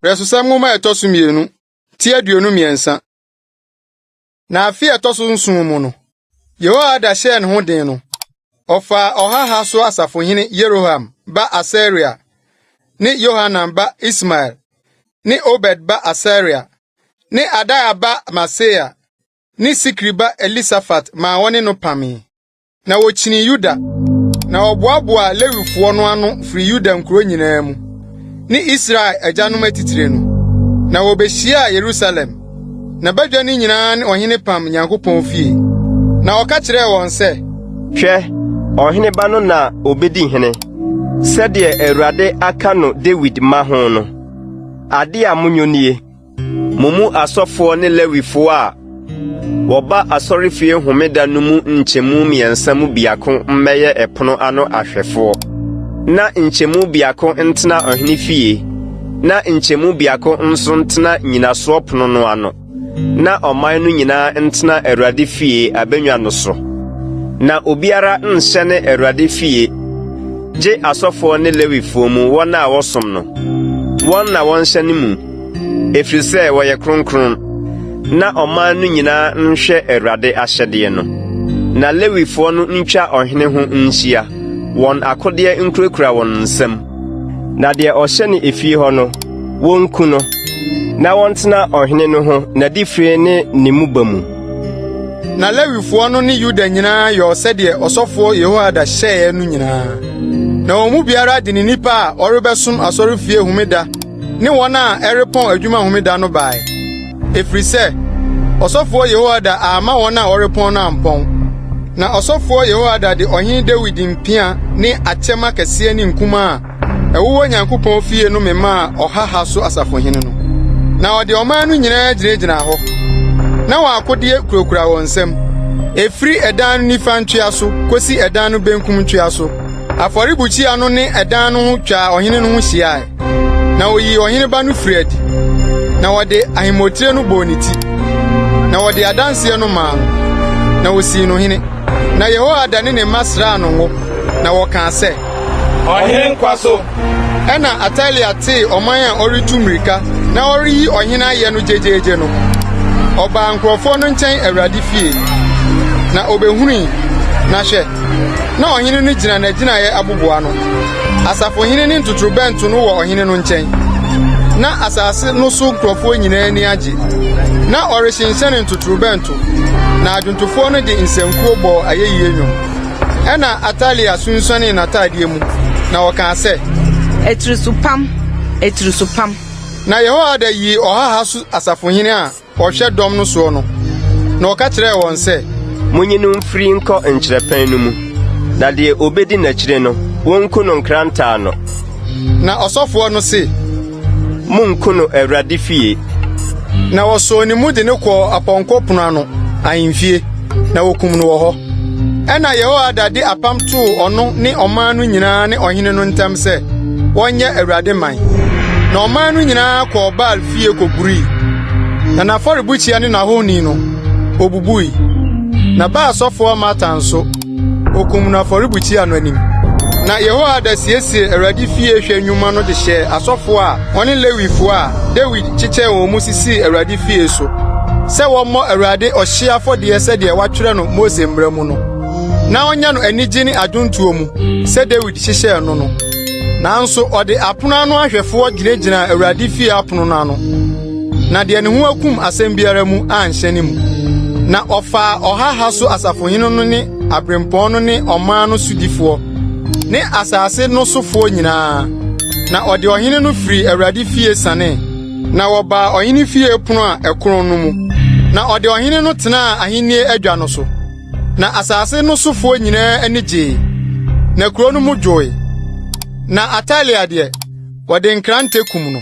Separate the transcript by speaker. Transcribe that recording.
Speaker 1: Brɛsosɛm nwoma a ɛtɔ so mmienu ti aduonu mmiɛnsa. Na afe a ɛtɔ so nson mu no, Yehoiada hyɛɛ ne ho den no, ɔfaa ɔhaha so asafohene Yeroham ba Asaria ne Yohanan ba Ismael ne Obed ba Asaria ne Adaia ba Maaseia ne Sikri ba Elisafat maa wɔne no pamee. Na wɔkyinii Yuda, na wɔboaboaa Lewifoɔ no ano firi Yuda nkuro nyinaa mu ne Israel agyanom atitire no, na wɔbɛhyiaa Yerusalem. Na badwa no nyinaa ne ɔhene pam Nyankopɔn fie. Na ɔka kyerɛɛ wɔn sɛ, Hwɛ,
Speaker 2: ɔhene ba no na ɔbɛdi hene, sɛdeɛ Awurade aka no Dawid mma ho no. Adeɛ a monyɔ nie. Mo mu asɔfoɔ ne Lewifoɔ a wɔba asɔrefie homeda no mu nkyɛmu mmiɛnsa mu biako mmɛyɛ ɛpono ano ahwɛfoɔ, na nkyɛmu biako ntena ɔhene fie, na nkyɛmu biako nso ntena nnyinasoɔ pono no ano, na ɔman no nyinaa ntena Awurade fie abannwa no so. Na obiara nhyɛne Awurade fie, gye asɔfoɔ ne Lewifoɔ mu wɔn a wɔsom no, wɔn na wɔnhyɛne mu. Ɛfiri sɛ wɔyɛ kronkron, na ɔman no nyinaa nhwɛ Awurade ahyɛdeɛ no. Na Lewifoɔ no ntwa ɔhene ho nhyia, wɔn akodeɛ nkurakura wɔn nsam. Na deɛ ɔhyɛ no efie hɔ no, wɔnku no, na wɔntena ɔhene no ho n'adifire ne ne mmoba mu. Na
Speaker 1: Lewifoɔ no ne Yuda nyinaa yɔɔ sɛdeɛ ɔsɔfoɔ Yehoiada hyɛeɛ no nyinaa. Na wɔn mu biara de ne nipa a ɔrebɛsom asɔrefie homeda ne wɔn a ɛrepɔn adwuma homeda no bae, ɛfiri sɛ ɔsɔfoɔ Yehoiada amma wɔn a wɔrepɔn no ampɔn. Na ɔsɔfoɔ Yehoiada de ɔhene Dawid mpea ne akyɛm akɛseɛ ne nkumaa a ɛwowɔ Onyankopɔn fie no memaa ɔhaha so asafohene no. Na ɔde ɔman no nyinaa gyinagyinaa hɔ, na wɔn akodeɛ kurakura wɔn nsam, ɛfiri ɛdan no nifa ntwea so kɔsi ɛdan no benkum ntwea so. Afɔrebukyia no ne ɛdan no ho twaa ɔhene no ho hyiae. na oyii ɔhene ba no firii adi, na wɔde ahemmotire no bɔɔ ne ti, na wɔde adanse no maa no, na wosii no hene. Na Yehoiada ne ne mma sraa no ngo, na wɔkaa sɛ, Ɔhene nkwa
Speaker 3: so! Ɛnna
Speaker 1: Atalia tee ɔman a ɔretu mmirika na ɔreyi ɔhene ayɛ no gyegyeegye no, ɔbaa nkurɔfoɔ no nkyɛn Awurade fie, na ɔbɛhunui, na hwɛ, na ɔhene no gyina n'agyinaeɛ aboboa no. Asafohene ne ntotorobɛnto no wɔ ɔhene no nkyɛn. Na asase no so nkurɔfoɔ nyinaa ani agye. Na ɔrehyenhyɛne ntotorobɛnto, na adwontofoɔ no de nsankuo bɔɔ ayɛyie nnwom. Ɛnna Atalia sunsuanee n'atadeɛ mu, na ɔkaa sɛ. Atirisopam!
Speaker 4: Atirisopam!
Speaker 1: Na Yehoiada yii ɔhaha so asafohene a. Ɔhwɛ dɔm no soɔ no, na ɔka kyerɛɛ wɔn sɛ. Monyi no mfiri
Speaker 2: nkɔ nkyerɛpɛn no mu, na deɛ ɔbɛdi n'akyire no, wɔnku no nkrantɛ ano. Na
Speaker 1: ɔsɔfoɔ no se. Monnku
Speaker 2: no Awurade fie. Na
Speaker 1: wɔsɔɔ ne mu de no kɔɔ Apɔnkɔ Pono ano ahemfie, na wɔkum no wɔ hɔ. Ɛnna Yehoiada de apam too ɔno ne ɔman no nyinaa ne ɔhene no ntam sɛ wɔnyɛ Awurade man. Na ɔman no nyinaa kɔɔ Baal fie kogurui, na n'afɔrebukyia ne n'ahoni no, obubui. Na baa sɔfoɔ Matan nso, okum no afɔrebukyia no anim. Na Yehoiada siesiee Awurade fie hwɛ nnwuma no de hyɛɛ asɔfoɔ a wɔne Lewifoɔ a Dawid kyekyɛɛ wɔn mu sisii Awurade fie so sɛ wɔmmɔ Awurade ɔhyeɛ afɔdeɛ sɛdeɛ wɔatwerɛ no Mose Mmara mu no, na wɔnyɛ no anigye ne adwontoɔ mu sɛ Dawid hyehyɛɛ no no. Nanso ɔde apono ano ahwɛfoɔ gyinagyinaa Awurade fie apono no ano, na deɛ ne ho akum asɛm biara mu anhyɛ ne mu. Na ɔfaa ɔhaha so asafohene no ne aberempɔn no ne ɔman no sodifoɔ ne asase no sofoɔ nyinaa, na ɔde ɔhene no firii Awurade fie sanee. Na wɔbaa ɔhene fie pono a ɛkorɔn no mu, na ɔde ɔhene no tenaa ahennie adwa no so. Na asase no sofoɔ nyinaa ani gyee, na kuro no mu dwoe. Na Atalia deɛ, wɔde nkrantɛ kum no.